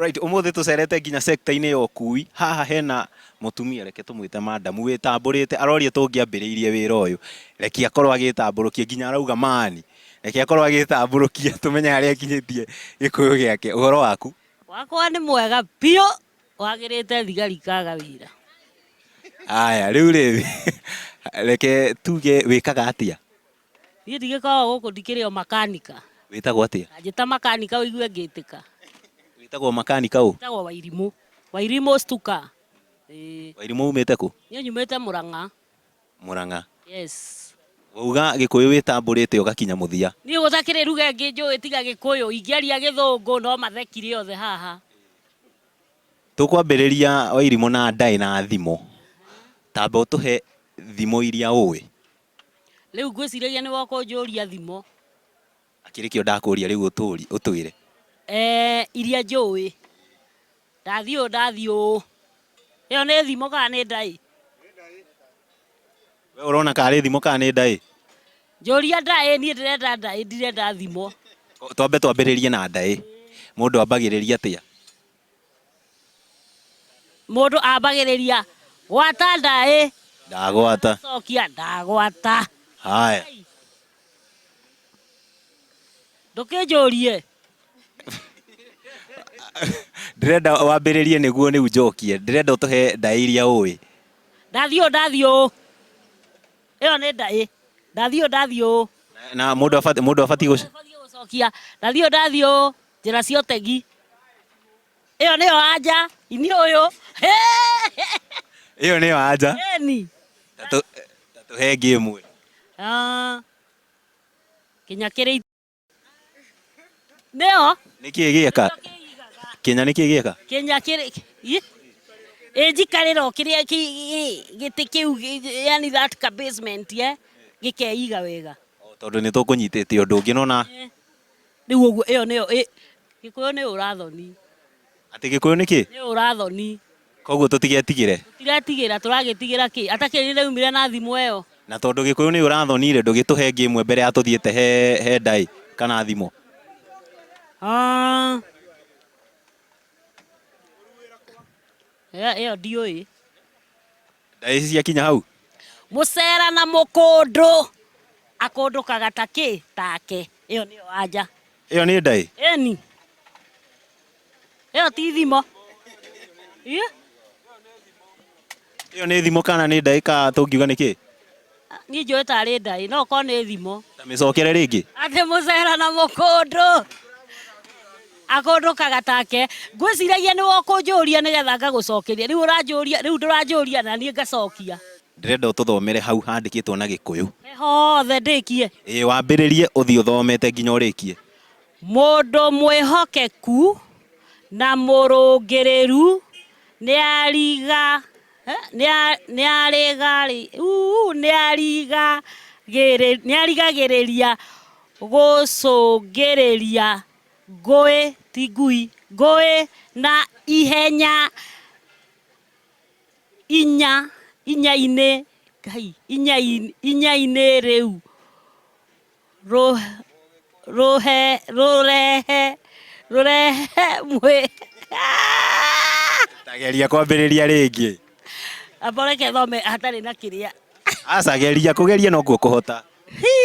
Right, umuthi tucerete nginya sector-inĩ ya ũkui. Haha hena mũtumia reke tũmwĩte madam wĩtambũrĩte aroria tũngĩambĩrĩirie wĩra ũyũ. Reke akorwo agĩĩtambũrũkia nginya arauga man. Reke akorwo agĩĩtambũrũkia tũmenye harĩa akinyĩtie gĩkũyũ gĩake. Ũhoro waku? Wakwa nĩ mwega biũ. Wagĩrĩte thigari ikaga wĩra. Aya, rĩu rĩ, reke tuge wĩkaga atĩa? Niĩ ndigĩkoragwo gũkũ ndikĩrĩ o makanika. Wĩtagwo atĩa? Anjĩta makanika ũigue ngĩtĩka. Wĩtagwo makanika ũ? Njĩtagwo Wairimũ. Wairimũ Stuka. Ĩĩ. Wairimũ umĩte kũ? Niĩ nyumĩte Mũrang'a. Murang'a. Yes. Wauga gĩkũyũ wĩtambũrĩte ũgakinya mũthia. Niĩ gũtakĩrĩ ruga ĩngĩ njũĩ tiga gĩkũyũ, ingĩaria gĩthũngũ no mathekire othe haha. Tũkwambĩrĩria Wairimũ na ndaĩ na thimo, tamba ũtũhe thimo iria ũĩ. Rĩu ngwĩciragia nĩwoka ũnjũria thimo. Akĩrĩ kĩo ndakũria rĩu ũtũũri, ũtwĩre. Ee, iria njũũĩ. Ndathiĩ ũũ, ndathiĩ ũũ. Ĩyo nĩ thimo kana nĩ ndaĩ? Wee ũrona ka arĩ thimo kana nĩ ndaĩ? Njũria ndaĩ, niĩ ndĩrenda ndaĩ, ndirenda thimo. Twambe twambĩrĩrie na ndaĩ. Mũndũ ambagĩrĩria atĩa? Mũndũ ambagĩrĩria gwata ndaĩ. Ndagwata. Cokia ndagwata. Haya. Ndũkĩnjũrie. Ndĩrenda wambĩrĩrie nĩguo rĩu njokie. Ndĩrenda ũtũhe ndaĩ iria ũĩ. Ndathiĩ ũũ ndathiĩ ũũ. Ĩyo nĩ ndaĩ. Ndathiĩ ũũ ndathiĩ ũũ. Na mũndũ abatiĩ gũcokia. Ndathiĩ ũũ ndathiĩ ũũ. Njĩra cia ũtegi. Ĩyo nĩyo anja. Ini ũyũ. Ĩyo nĩyo anja. Ĩni. Tatũhe ngĩ ĩmwe. Ah. Kinya kĩrĩ. Nĩyo. Nĩkĩ gĩeka? Kinya nĩkĩ gĩeka? Kinya kĩrĩ. Ĩ njikarĩra o kĩrĩa gĩtĩ kĩu yani that ka basement ye gĩkeiga wega. Tondũ nĩ tũkũnyitĩte ũndũ ũngĩ nona. Yeah. Rĩu ũguo ĩyo nĩyo ĩ Gĩkũyũ nĩ ũrathoni. Atĩ Gĩkũyũ nĩ kĩ? Nĩ ũrathoni. Koguo tũtigetigĩre. Tũtiretigĩra, tũragĩtigĩra kĩ? Ata kĩrĩ nĩraumire na thimũ ĩyo. Na tondũ Gĩkũyũ nĩ ũrathoni rĩ, ndũgĩtũhe ĩngĩ ĩmwe mbere ya tũthiĩte he he ndaĩ kana thimũ. Haa. Ĩyo ĩyo ndiũĩ. Ndaĩ ici ciakinya hau. Mũcera na mũkũndũ. Akũndũkaga ta kĩ? Take. Ĩyo nĩyo anja. Ĩyo nĩ ndaĩ? Ĩni. Ĩyo ti thimo. Ĩyo nĩ thimo kana nĩ ndaĩ ka tũngiuga nĩ kĩ? Niĩ njũĩ tarĩ ndaĩ, no korwo nĩ thimo. Ta mĩcokere rĩngĩ. Atĩ mũcera na mũkũndũ. Akũndũkaga take. Ngwĩciragia nĩwe ũkũnjũria nĩgetha ngagũcokeria. Rĩu ũranjũria, rĩu ndũranjũria na niĩ ngacokia. Ndĩrenda ũtũthomere hau handĩkĩtwo na Gĩkũyũ. He hothe ndĩkie? Ĩĩ wambĩrĩrie ũthiĩ ũthomete nginya ũrĩkie. Mũndũ mwĩhokeku na mũrũngĩrĩru nĩariga. Nĩarigagĩrĩria gũcũngĩrĩria ngũĩ, ti ngui, ngũĩ na ihenya inya, inya-inĩ, Ngai, inya-inĩ, inya-inĩ rĩu. Rũ- rũhe rũrehe rũrehe mwĩ tageria kwambĩrĩria rĩngĩ amboreke thome hatarĩ na kĩrĩa acageria kũgeria nokuo kũhota Hi!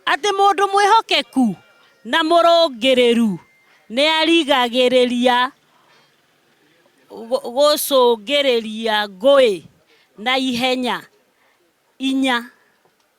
atĩ mũndũ mwĩhokeku na mũrũngĩrĩru nĩ arigagĩrĩria gũ- gũcũngĩrĩria ngũĩ na ihenya inya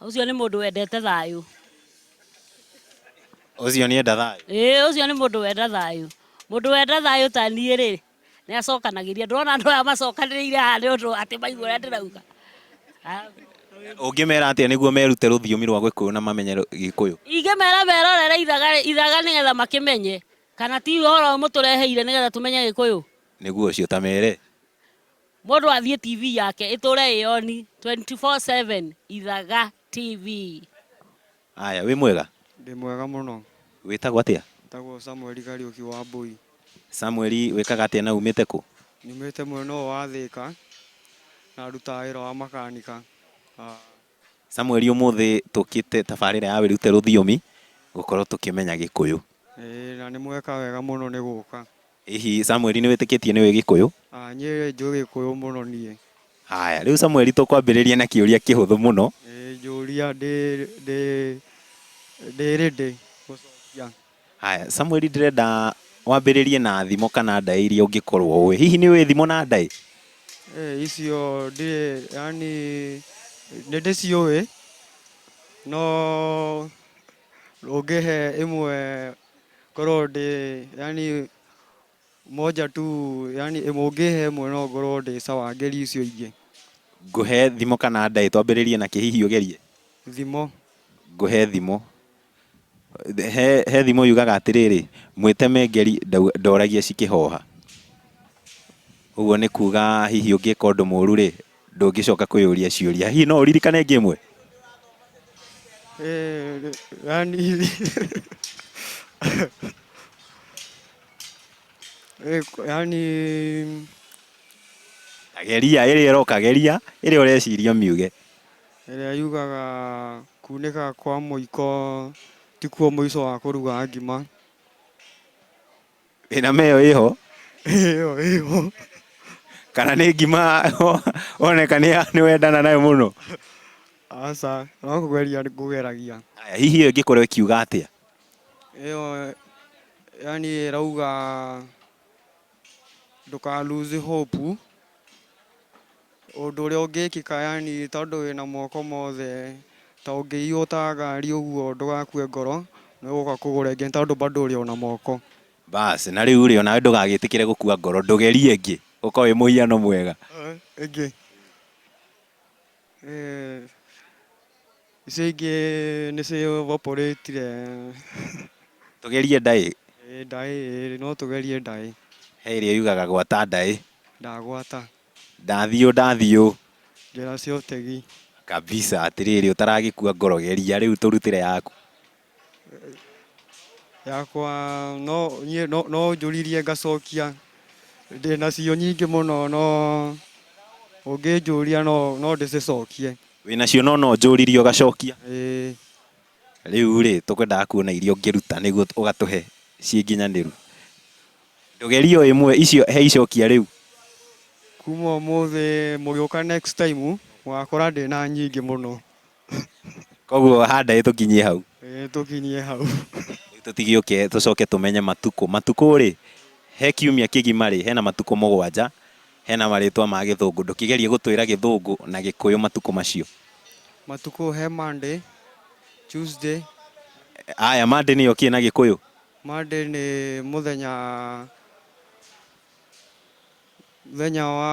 Ũcio nĩ mũndũ wendete thayũ. Ũcio nĩ enda thayũ. Ĩĩ, ũcio nĩ mũndũ wenda thayũ. Mũndũ wenda thayũ ta niĩ-rĩ, nĩ acokanagĩria. Ndũrona andũ aya macokanĩrĩire haha nĩ ũndũ atĩ maigua ũrĩa ndĩrauga? Ũngĩmera atĩa nĩguo merute rũthiomi rwa Gĩkũyũ na mamenye Gĩkũyũ? Ingĩmera merorere ithaga ithaga nĩgetha makĩmenye. Kana ti ũhoro ũyũ mũtũreheire nĩgetha tũmenye Gĩkũyũ? Nĩguo ũcio, ta mere. Mũndũ athiĩ TV yake ĩtũre ĩ on 24/7 Ithaga TV. Aya, wĩ mwega? Ndĩ mwega mũno. Wĩtagwo atĩa? Njĩtagwo Samuel Kariũki Wambũi. Samuel wĩkaga atĩa na umĩte kũ? Nyumĩte mwena ũyũ wa Thĩka na ndutaga wĩra wa makanika. Samuel ũmũthĩ tũkĩte tabarĩra ya wĩrute rũthiomi gũkorwo tũkĩmenya gĩkũyũ. Ĩĩ na nĩ mweka wega mũno nĩ gũka. Hihi Samuel nĩ wĩtĩkĩtie nĩ ũĩ gĩkũyũ? Aa niĩ rĩ njũĩ gĩkũyũ mũno niĩ. Haya rĩu Samuel tũkwambĩrĩria na kĩũria kĩhũthũ mũno. Ĩĩ njũria ndĩ ready gũcokia. Haya, Samueli ndĩrenda wambĩrĩrie na thimo kana ndaĩ iria ũngĩkorwo ũĩ. Hihi nĩ ũĩ thimo na ndaĩ? Eh, icio ndĩ yani nĩ ndĩciũĩ no ũngĩhe ĩmwe ngorwo ndĩ yani moja tu yani ĩmwe ũngĩhe ĩmwe no ngorwo ndĩ sawa ngerie icio ingĩ. Ngũhe thimo kana ndaĩ? Twambĩrĩrie na kĩ hihi ũgerie? Thimo. Ngũhe thimo. He, he thimo yugaga atĩrĩrĩ mwĩteme ngeri ndau- ndoragia cikĩhoha ũguo nĩ kuga hihi ũngĩka ũndũ mũru rĩ ndũngĩcoka kwĩyũria ciũria hihi no ũririkane ĩngĩ ĩmwe Eh, yani Eh, ku- yani geria ĩrĩa ĩroka geria ĩrĩa ũreciria ũmiuge ĩrĩa yugaga kunĩka kwa mũiko tikuo mũico wa kũruga ngima. Thinema ĩyo ĩho? Ĩyo ĩho. Kana nĩ ngima woneka nĩ wendana nayo mũno? Aca, no kũgeria ngũgeragia. Haya, hihi ĩyo ĩngĩkorwo ĩkiuga atĩa? Ĩyo yani ĩrauga... Ndũka lose hope ũndũ ũrĩa ũngĩkĩka yani tondũ wĩna moko mothe ta ũngĩiywo ta ngari ũguo ndũgakue ngoro nĩ ũgũka kũgũra ĩngĩ tondũ bado ũrĩ ona moko. Baas na rĩu rĩ onawe ndũgagĩtĩkĩre gũkua ngoro ndũgerie ĩngĩ ũka wĩ mũhiano mwega. Ĩngĩ. Icio ingĩ nĩ ci evaporate re. Tũgerie ndaĩ. Ĩĩ ndaĩ ĩĩ no tũgerie ndaĩ. He ĩrĩa yugaga gwata ndaĩ. Ndagwata. Ndathiũ ndathiũ. Njĩra cia ũtegi. Kabisa. Atĩrĩrĩ ũtaragĩkua ngoro geria rĩu tũrutĩre yaku. Yakwa no niĩ no- no njũririe ngacokia ndĩnacio nyingĩ mũno no ũngĩnjũria no no ndĩcicokie Wĩnacio no no njũririe ũgacokia. ĩĩ. Rĩu rĩ tũkwendaga kuona iria ũngĩruta nĩguo ũgatũhe ciĩ nginyanĩru. Tũgerie o ĩmwe icio he icokia rĩu. Kuma ũmũthĩ mũgĩũka next time mũgakora ndĩna nyingĩ mũno. koguo handa ĩ tũkinyie hau Eh, tũkinyie hau Rĩu tũtigĩũke tũcoke tũmenye matukũ matukũ rĩ he kiumia kĩgima rĩ hena matukũ mũgwanja hena marĩtwa ma gĩthũngũ ndũkĩgerie gũtwĩra gĩthũngũ na gĩkũyũ matukũ macio matukũ he monday tuesday aya mande nĩyo kĩ na gĩkũyũ monday nĩ mũthenya mũthenya wa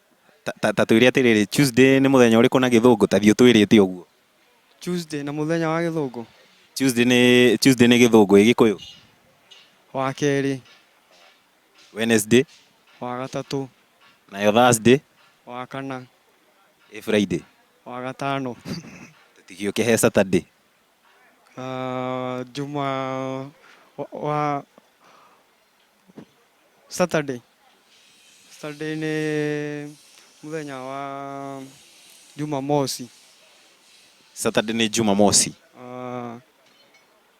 Ta, ta twĩre atĩrĩrĩ, Tuesday nĩ mũthenya ũrĩkũ na gĩthũngũ? Ta thiĩ ũtwĩrĩte ũguo. Tuesday nĩ mũthenya wa gĩthũngũ. Tuesday nĩ Tuesday nĩ gĩthũngũ ĩ gĩkũyũ. Wa kerĩ. Wednesday. Wa gatatũ. Nayo Thursday. Wa kana. Ĩ Friday. Wa gatano. Tũtigĩũke he Saturday. Uh, juma wa, wa Saturday, Saturday nĩ mũthenya wa Jumamosi. Saturday nĩ Jumamosi. Ah,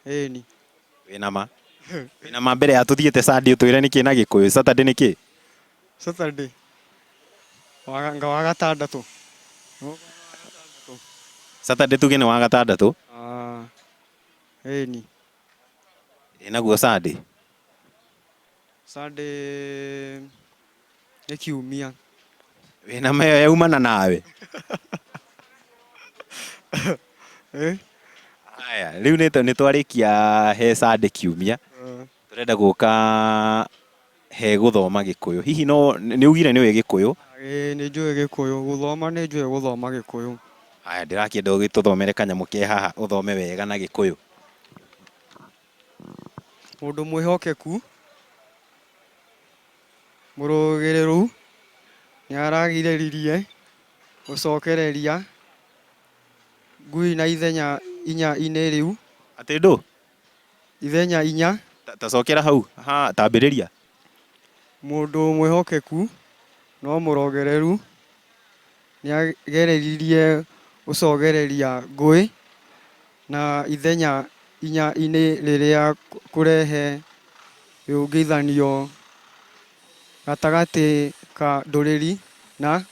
ĩni. Wĩna ma? Wĩna ma mbere ya tũthiĩte Sunday ũtwĩre nĩ kĩ na Gĩkũyũ? Saturday nĩ kĩ? Saturday wa- nga wa gatandatũ. Saturday tuge nĩ wa gatandatũ. Ah, ĩni. Ĩ naguo Sunday? Sunday nĩ kiumia. Wĩna ma ĩyo yaumana nawe. Ĩ. Haya, rĩu nĩ nĩ twarĩkia he Sunday kiumia, Ĩĩ. tũrenda gũka he gũthoma Gĩkũyũ. Hihi no nĩ ugire nĩ ũĩ Gĩkũyũ? Ĩĩ nĩ njũĩ Gĩkũyũ. Gũthoma nĩ njũĩ gũthoma Gĩkũyũ. Haya, ndĩrakĩenda ũgĩtũthomere kanyamũ ke haha ũthome wega na Gĩkũyũ. Mũndũ mwĩhokeku, mũrũgĩrĩru, nĩ aragirĩrĩrie gũcokereria ngui na ithenya inya-inĩ rĩu. Atĩ ndũ? Ithenya inya. Ta, ta cokera hau. Ha, tambĩrĩria. Mũndũ mwĩhokeku no mũrogereru. Nĩageririe gũcogereria ngũĩ na ithenya inya-inĩ rĩrĩa kũrehe rĩũngithanio gatagatĩ ka ndũrĩrĩ na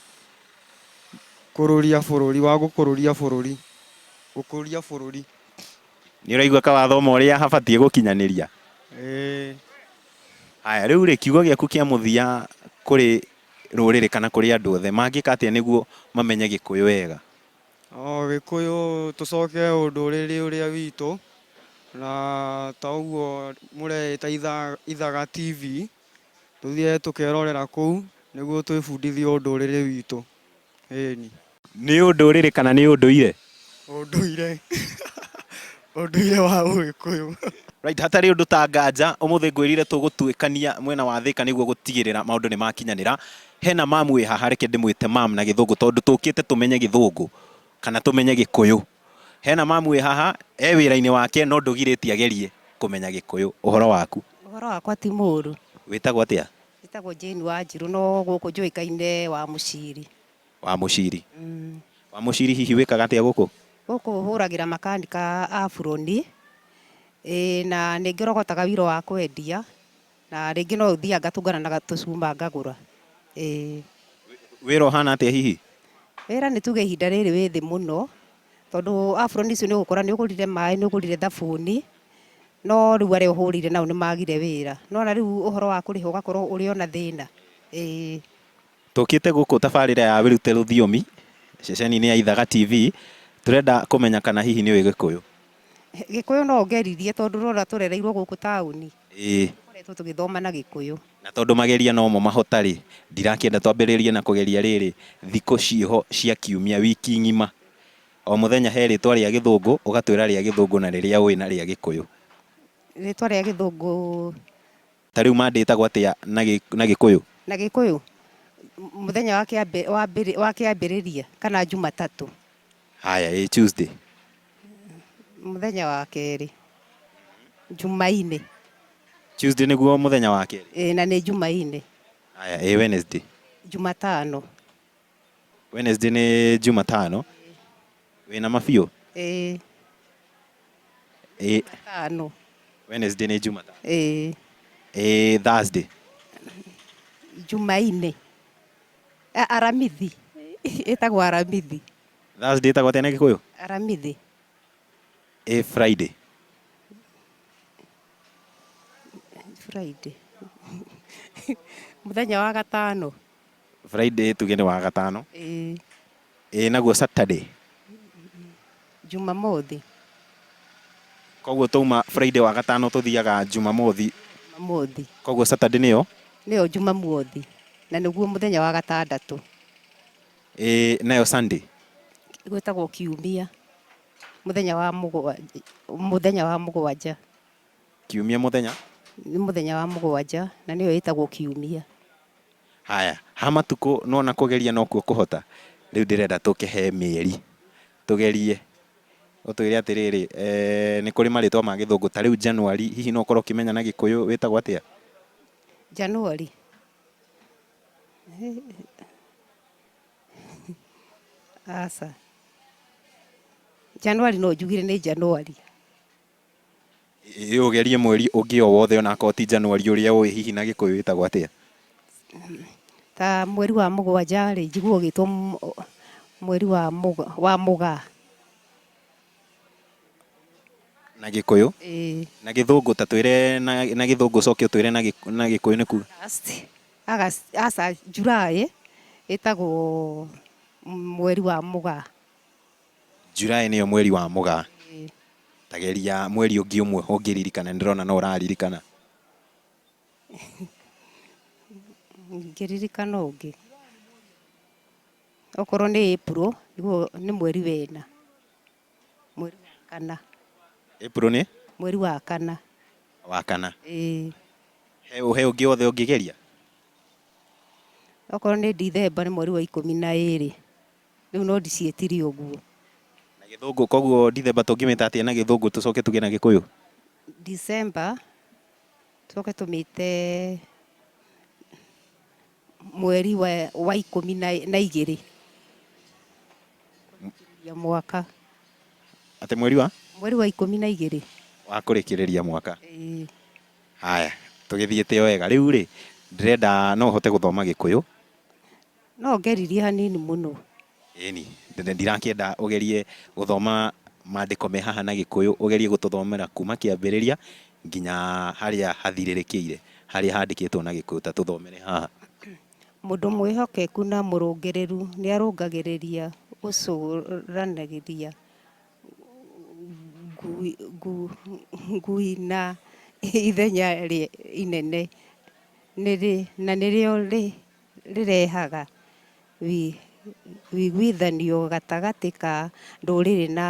kũrũria bũrũri, wa gũkũrũria bũrũri, gũkũria bũrũri. Nĩũraigua kawathoma ũrĩa habatiĩ gũkinyanĩria? Ĩĩ. Haya, rĩu-rĩ, kiugo gĩaku kĩa mũthia kũrĩ. rũrĩrĩ kana kũrĩ andũ othe mangĩka atĩa nĩguo mamenye gĩkũyũ wega? Gĩkũyũ tũcoke ũndũrĩrĩ ũrĩa witũ na ta ũguo mũreĩta ithaga TV tũthiage tũkerorera kũu nĩguo twĩbundithie ũndũrĩrĩ witũ. Ĩĩni. Nĩ ũndũrĩrĩ kana nĩ ũndũire? Ũndũire. Ũndũire wa Ũgĩkũyũ. Right, hatarĩ ũndũ ta nganja, ũmũthĩ ngwĩrire tũgũtuĩkania mwena wa Thĩka nĩguo gũtigĩrĩra maũndũ nĩ makinyanĩra. Hena ma'am wĩ haha, reke ndĩmwĩte ma'am na gĩthũngũ tondũ tũkĩte tũmenye gĩthũngũ kana tũmenye gĩkũyũ. Hena ma'am wĩ haha, e wĩra-inĩ wake no ndũgirĩtie agerie kũmenya gĩkũyũ. Ũhoro waku? Ũhoro wakwa ti mũũru. Wĩtagwo atĩa? Njĩtagwo Jane Wanjirũ no gũkũ njũĩkaine Wamuciri. Wamuciri. Wamuciri hihi wĩkaga atĩa gũkũ? Gũkũ hũragĩra makanika a buroni, ĩĩ na nĩ ngĩrogotaga wiro wa kwendia na rĩngĩ no thiaga ngatũngana na tũcuma ngagũra. Ĩĩ. Wĩra ũhana atĩa hihi? Wĩra nĩ tuge ihinda rĩrĩ wĩ thĩ mũno Tondũ aburoni icio nĩ ũgũkora nĩ ũgũrire maĩ, nĩ ũgũrire thabuni, no rĩu arĩa ũhũrĩire nao nĩ magire wĩra. Nĩ wona rĩu ũhoro wa kũrĩha ũgakorwo ũrĩ o na thĩna. Ĩĩ. Tũkĩte gũkũ tabarĩra ya Wĩrute Rũthiomi ceceni-inĩ ya Ithaga TV, tũrenda kũmenya kana hihi nĩ ũĩ Gĩkũyũ. Gĩkũyũ no ũngeririe tondũ ũrona tũrereirwo gũkũ taũni. Ĩĩ. Tũkoretwo tũgĩthoma na Gĩkũyũ. Na tondũ mageria no mo mahota-rĩ, ndirakĩenda twambĩrĩrie na kũgeria rĩrĩ, thikũ ciĩ ho cia kiumia, wiki ng'ima. O mũthenya he rĩtwa rĩa Gĩthũngũ, ũgatwĩra rĩa Gĩthũngũ na rĩrĩa ũĩ na rĩa Gĩkũyũ. Rĩtwa rĩa Gĩthũngũ Ta rĩu ma ndĩtagwo atĩa na gĩ, na Gĩkũyũ? Na Gĩkũyũ? Mũthenya wa kĩambi, wa mbĩrĩ, wa kĩambĩrĩria, kana Jumatatũ. Haya, ĩ Tuesday? Mũthenya wa kerĩ. Jumainĩ. Tuesday nĩguo mũthenya wa kerĩ? Ĩ, na nĩ Jumainĩ. Haya, ĩ Wednesday? Jumatano. Wednesday nĩ Jumatano. Wĩna ma biũ? Ĩĩ. Ĩĩ. Tano. Wednesday nĩ Jumatano. Ĩĩ. Ĩĩ Thursday. Jumaine. A- Aramithi. Ĩtagwo Aramithi. Thursday ĩtagwo atĩa na Gĩkũyũ? Aramithi. Ĩĩ Friday. Friday. Mũthenya wa gatano. Friday tuge nĩ wagatano. Ĩĩ. Ĩĩ naguo Saturday? Jumamothi. Koguo twauma Friday wagatano tũthiaga Jumamothi. Jumamothi. Koguo Saturday nĩyo? Nĩyo Jumamuothi. Na nĩguo mũthenya wa gatandatũ. Ĩĩ nayo Sunday? Gwĩtagwo kiumia. Mũthenya wa mũgwa, mũthenya wa mũgwanja. Kiumia mũthenya? Nĩ mũthenya wa mũgwanja na nĩyo ĩtagwo kiumia. Haya, ha matukũ nĩwona kũgeria nokuo kũhota, rĩu ndĩrenda tũke he mĩeri, tũgerie ũtwĩre atĩrĩrĩ, nĩ kũrĩ marĩtwa ma gĩthũngũ, ta rĩu January, hihi no ũkorwo ũkĩmenya na gĩkũyũ wĩtagwo atĩa? January? Aca. January no njugire nĩ January. Ĩ ũgerie mweri ũngĩ o wothe ona akorwo ti Januari ũrĩa ũĩ hihi na Gĩkũyũ wĩtagwo atĩa? Ta mweri wa mũgwanja rĩ, njiguaga ũgĩtwo mweri wa mũgaa, wa mũgaa. Na Gĩkũyũ? Ĩĩ. Na Gĩthũngũ ta twĩre na na Gĩthũngũ ũcoke ũtwĩre na Gĩkũ, na Gĩkũyũ nĩku? August, August, aca, July ĩtagwo mweri wa mũgaa. July nĩyo mweri wa mũgaa. Ta geria mweri ũngĩ ũmwe ũngĩririkana, nĩndĩrona no ũraririkana. Ingĩririkana ũngĩ, okorwo nĩ April, nĩguo nĩ mweri wa ĩna. Mweri wa kana. April nĩ? Mweri wa kana. Wa kana. Ĩĩ. He he ũngĩ wothe ũngĩgeria? Okorwo nĩ December nĩ mweri wa ikũmi na ĩrĩ. Rĩu no ndiciĩtire ũguo. Na gĩthũngũ, koguo Ndithemba tũngĩmĩta atĩa na gĩthũngũ tũcoke tũgĩe na gĩkũyũ? Ndithemba tũcoke tũmĩte mweri wa ikũmi na igĩrĩ kũrĩkĩrĩria mwaka. Atĩ mweri wa? Mweri wa ikũmi na igĩrĩ. Wa kũrĩkĩrĩria mwaka? Ĩĩ. Haya, tũgĩthiĩte o wega. Rĩu-rĩ, ndĩrenda no ũhote gũthoma gĩkũyũ? No ngeririe hanini mũno. Ĩni, ndirakĩenda ũgerie gũthoma maandĩko me haha na Gĩkũyũ, ũgerie gũtũthomera kuuma kĩambĩrĩria nginya harĩa hathirĩrĩkĩire, harĩa handĩkĩtwo na Gĩkũyũ. Ta tũthomere haha. Mũndũ mwĩhokeku na mũrũngĩrĩru nĩ arũngagĩrĩria gũcũranagĩria ngui na ithenya inene, na nĩrĩo rĩ... rĩrehaga ũiguithanio gatagatĩ ka ndũrĩrĩ na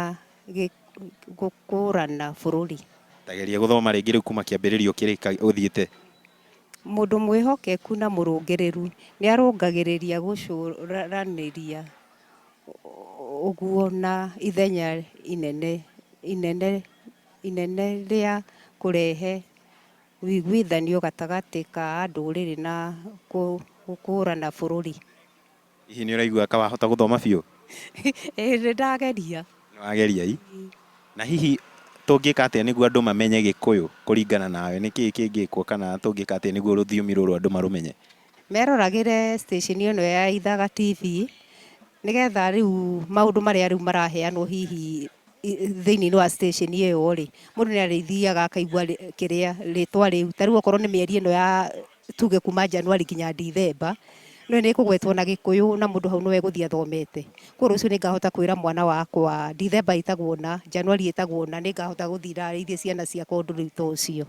gũkũrana bũrũri. Ta geria gũthoma rĩngĩ rĩu kuuma kĩambĩrĩria ũkĩrĩka ũthiĩte. Mũndũ mwĩhokeku na mũrũngĩrĩru nĩarũngagĩrĩria gũcũranĩria ũguo na ithenya inene rĩa kũrehe ũiguithanio gatagatĩ ka ndũrĩrĩ na gũkũrana bũrũri. Hihi nĩ ũraigua ka wahota gũthoma biũ? Ĩĩ nĩ ndageria. Nĩ wageria i. Na hihi tũngĩka atĩa nĩguo andũ mamenye Gĩkũyũ kũringana nawe? Nĩ kĩĩ kĩngĩkwo kana tũngĩka atĩa nĩguo rũthiomi rũrũ andũ marũmenye? Meroragĩre station ĩno ya Ithaga TV, nĩgetha rĩu maũndũ marĩa rĩu maraheanwo hihi thĩinĩ wa station ĩyo rĩ, mũndũ nĩ arĩthiaga akaigua kĩrĩa rĩtwa rĩu. Ta rĩu okorwo nĩ mĩeri ĩno ya tuge kuma January nginya December, nĩ ĩkũgwetwo na Gĩkũyũ na mũndũ hau nĩ we egũthiĩ athomete. Kũguo rũciũ nĩ ngahota kwĩra mwana wakwa December ĩtagwo ũna, January ĩtagwo ũna, nĩ ngahota gũthiĩ ndarĩrie ciana ciakwa ũndũ rĩu ta ũcio.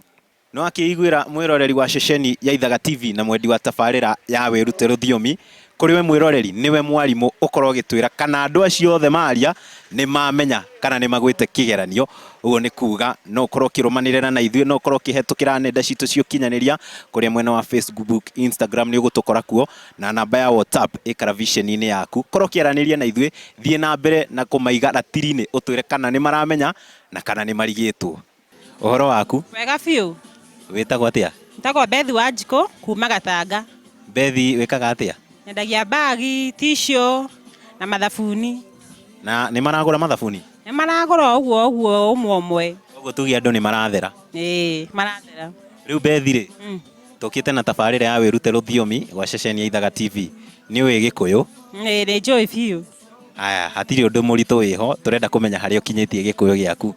No akĩiguĩra mwĩroreri wa ceceni ya Ithaga TV na mwendi wa tabarĩra ya Wĩrute Rũthiomi, kũrĩ we mwĩroreri nĩwe mwarimũ ũkorwo ũgĩtwĩra kana andũ acio othe maria nĩ mamenya kana nĩ magwĩte kĩgeranio. Ũguo nĩ kuga no ũkorwo ũkĩrũmanĩrĩra na ithuĩ, no ũkorwo ũkĩhetũkĩra nenda citũ cia ũkinyanĩria kũrĩa mwena wa Facebook, Instagram nĩ ũgũtũkora kuo na namba ya WhatsApp ĩ karabiceni-inĩ yaku. Korwo ũkĩaranĩria na ithuĩ, thiĩ na mbere na kũmaiga ratiri-inĩ ũtwĩre kana nĩ maramenya na kana nĩ marigĩtwo. Ũhoro waku? Wega biũ. Wĩtagwo atĩa? Njĩtagwo Beth Wanjikũ kuma Gatanga. Beth wĩkaga atĩa? Nyendagia mbagi, tissue na mathabuni. Na nĩ maragũra mathabuni? Nĩ maragũra ũguo ũguo ũmwe ũmwe. Ũguo tuge andũ nĩ marathera? Ĩĩ marathera. Rĩu Beth rĩ, mm. tũkĩte na tabarĩra ya wĩrute rũthiomi gwa ceceni ya Ithaga TV. Nĩ ũĩ Gĩkũyũ? Ĩĩ nĩ njũĩ biũ. Aya, hatirĩ ũndũ mũritũ wĩho, tũrenda kũmenya harĩa ũkinyĩtie gĩkũyũ gĩaku.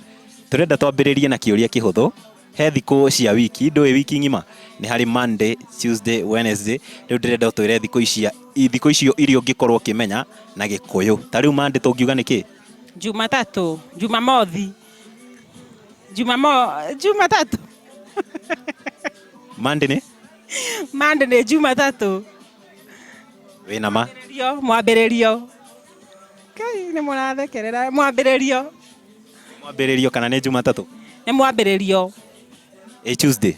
Tũrenda twambĩrĩrie na kĩũria kĩhũthũ, he thikũ cia wiki, ndũĩ wiki ng'ima? Nĩ harĩ Monday, Tuesday, Wednesday, rĩu ndĩrenda ũtwĩre thikũ icia, thikũ icio iria ũngĩkorwo ũkĩmenya na gĩkũyũ. Ta rĩu Monday tũngiuga nĩ kĩĩ? Jumatatũ, Jumamothi, Jumamo, Jumatatũ. Monday nĩ? Monday nĩ Jumatatũ. wĩna ma Mwambĩrĩrio, mwambĩrĩrio kai nĩ mũrathekerera mwambĩrĩrio mwambĩrĩrio kana nĩ jumatatũ nĩ mwambĩrĩrio ĩ tuesday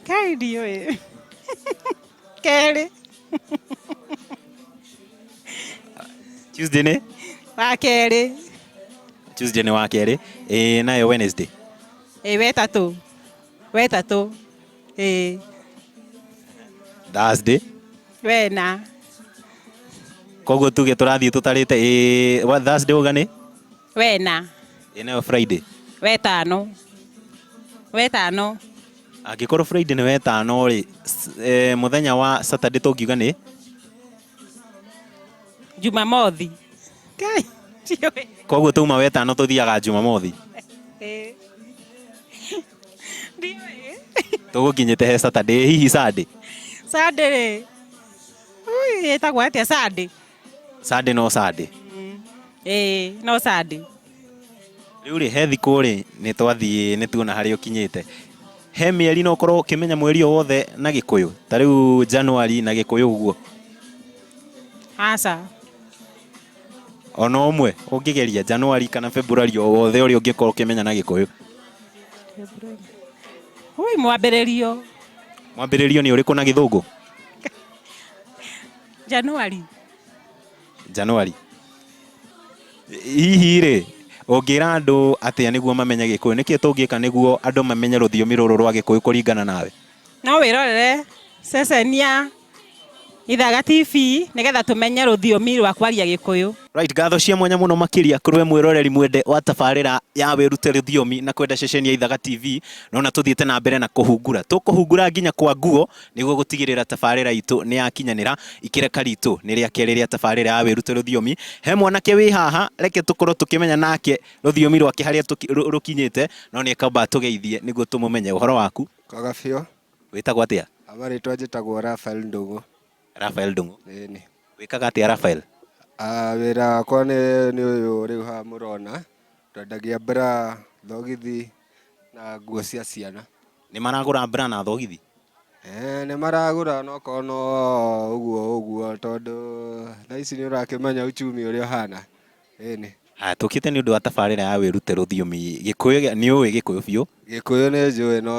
kai ndiũĩ kerĩ tuesday nĩ wa kerĩ tuesday nĩ wa kerĩ ĩ nayo wednesday ĩ wetatũ wetatũ Eh. Thursday. Wena. Koguo tuge tũrathiĩ tũtarĩte ĩ wa Thursday ũga nĩ? Wena. Ĩ nayo Friday. Wetano. Wetano. Angĩkorwo Friday nĩ wetano rĩ, e, mũthenya wa Saturday tũngiuga nĩ? Jumamothi. Kai. Koguo tuma wetano tũthiaga Jumamothi. Eh. Ndiũĩ. tũgũkinyĩte he saturday hihi sunday Sunday rĩ. Ui, ĩtagwo atĩa Sunday? sunday no sunday Ĩĩ, no Sunday. rĩu rĩ he thikũ rĩ nĩ twathiĩ nĩ tuona harĩa ũkinyĩte he mĩeri no ũkorwo ũkĩmenya mweri o wothe na gĩkũyũ ta rĩu januari na gĩkũyũ ũguo Aca. ona ũmwe ũngĩgeria Januari kana Februari o wothe ũrĩa ũngĩkorwo ũkĩmenya na Gĩkũyũ? Ui, mwambĩrĩrio. Mwambĩrĩrio nĩ ũrĩkũ na Gĩthũngũ? Januari. Januari. Hihi rĩ, ũngĩra andũ atĩa nĩguo mamenye Gĩkũyũ? Nĩkĩ tũngĩka nĩguo andũ mamenye rũthiomi rũrũ rwa Gĩkũyũ kũringana nawe? No wĩrorere ceceni ya. Ithaga TV nĩgetha tũmenye rũthiomi rwa kwaria Gĩkũyũ. Right, ngatho cia mwanya mũno makĩria kũrĩ we mwĩroreri mwende wa tabarĩra ya wĩrute rũthiomi na kwenda ceceni ya Ithaga TV. Nĩwona tũthiĩte na mbere na kũhungura. Tũkũhungura nginya kwa nguo nĩguo gũtigĩrĩra tabarĩra itũ nĩyakinyanĩra. Ikĩreka ritũ nĩ rĩa kerĩ rĩa tabarĩra ya wĩrute rũthiomi. He mwanake wĩ haha, reke tũkorwo tũkĩmenya nake rũthiomi rwake harĩa rũkinyĩte, no nĩekamba atũgeithie nĩguo tũmũmenye. Ũhoro waku? Kwega biũ. Wĩtagwo atĩa? Aba rĩtwa njĩtagwo Raphael Ndũng'ũ. Raphael Ndũng'ũ. Ĩni. Wĩkaga atĩa Raphael? Ah, wĩra wakwa nĩ nĩ ũyũ rĩu haha mũrona, twendagia bra, thogithi na nguo cia ciana. Nĩ maragũra bra na thogithi? Eh, nĩ maragũra no korwo no ũguo ũguo tondũ thaa ici nĩ ũrakĩmenya uchumi ũrĩa ũhana. Ĩni. Haya, tũkĩte nĩ ũndũ wa tabarĩra ya wĩrute rũthiomi Gĩkũyũ. gĩa- Nĩ ũĩ Gĩkũyũ biũ? Gĩkũyũ nĩ njũĩ no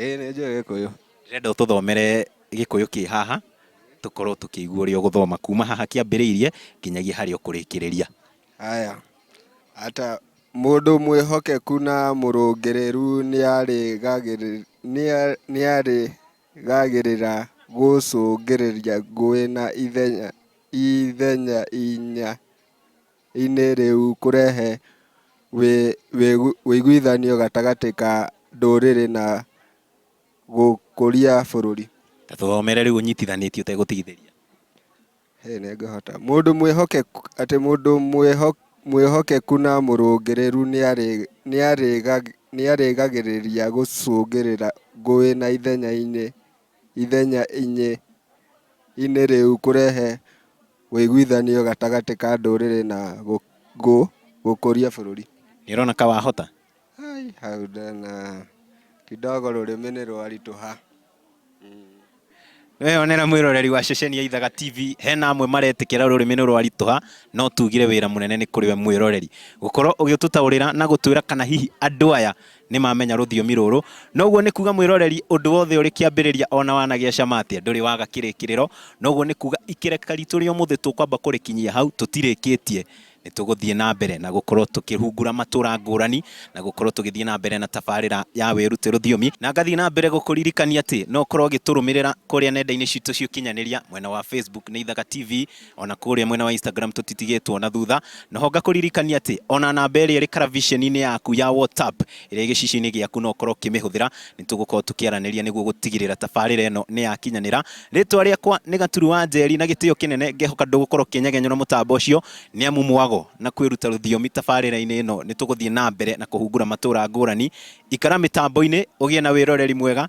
ĩĩ nĩ njũĩ Gĩkũyũ. Ndĩrenda ũtũthomere Gĩkũyũ kĩ haha, tũkorwo tũkĩigua ũrĩa ũgũthoma kuma haha kĩambĩrĩirie nginyagia harĩa ũkũrĩkĩrĩria. Haya, ata mũndũ mwĩhokeku na mũrũngĩrĩru nĩarĩgagĩrĩ- nĩa- nĩarĩgagĩrĩra gũcũngĩrĩria ngũĩ na ithenya ithenya-inĩ rĩu kũrehe ũiguithanio gatagatĩ ka ndũrĩrĩ na gũkũria bũrũri. Ta tũthomere rĩu ũnyitithanĩtie ũtegũtigithĩria. Mũndũ mwĩhokeku, atĩ mũndũ mwĩhokeku na mũrũngĩrĩru nĩarĩgagĩrĩria gũcũngĩrĩra ngũĩ na ithenya-inĩ. ithenya inĩ inĩ rĩu kũrehe ũiguithanio gatagatĩ ka ndũrĩrĩ na gũkũria bũrũri. Nĩ ũrona ka wahota? Hai, hau ndona kidogo rũrĩmĩ nĩ rwaritũha. Nĩ weyonera mwĩroreri wa ceceni ya Ithaga TV, hena amwe maretĩkĩra rũrĩmĩ nĩ rwaritũha, no tugire wĩra mũnene nĩ kũrĩ we mwĩroreri, gũkorwo ũgĩtũtaũrĩra na gũtwĩra kana hihi andũ aya Nĩ mamenya rũthiomi rũrũ. Na ũguo nĩ kuuga mwĩroreri, ũndũ wothe ũrĩ kĩambĩrĩria o na wanagĩa cama atĩa, ndũrĩ waga kĩrĩkĩrĩro. Na ũguo nĩ kuuga ikereka riitũ rĩa ũmũthĩ tũkwamba kũrĩkinyia hau, tũtirĩkĩtie. Nĩ tũgũthiĩ na mbere na gũkorwo tũkĩhungura matũũra ngũrani, na gũkorwo tũgĩthiĩ na mbere na tabarĩra ya Wĩrute Rũthiomi. Na ngathiĩ na mbere gũkũririkania atĩ no ũkorwo ũgĩtũrũmĩrĩra kũrĩa nenda-inĩ ciitũ cia ũkinyanĩria, mwena wa Facebook nĩ Ithaga TV, ona kũrĩa mwena wa Instagram tũtitigĩtwo na thutha noho ngakũririkania atĩ ona namba ĩrĩa ĩrĩ karaviceni-inĩ yaku ya WhatsApp ĩrĩa gĩcicio-inĩ gĩaku no ũkorwo ũkĩmĩhũthĩra nĩ tũgũkorwo tũkĩaranĩria nĩguo gũtigĩrĩra tabarĩra ĩno nĩ yakinyanĩra rĩtwa rĩakwa nĩ Gaturu wa Njeri na gĩtĩo kĩnene ngehoka ndũgũkorwo ũkĩnyegenyũra mũtambo ũcio nĩ amu mwago na kwĩruta rũthiomi tabarĩra-inĩ ĩno nĩ tũgũthiĩ na mbere na kũhungura matũra ngũrani ikara mĩtambo-inĩ ũgĩe na wĩroreri mwega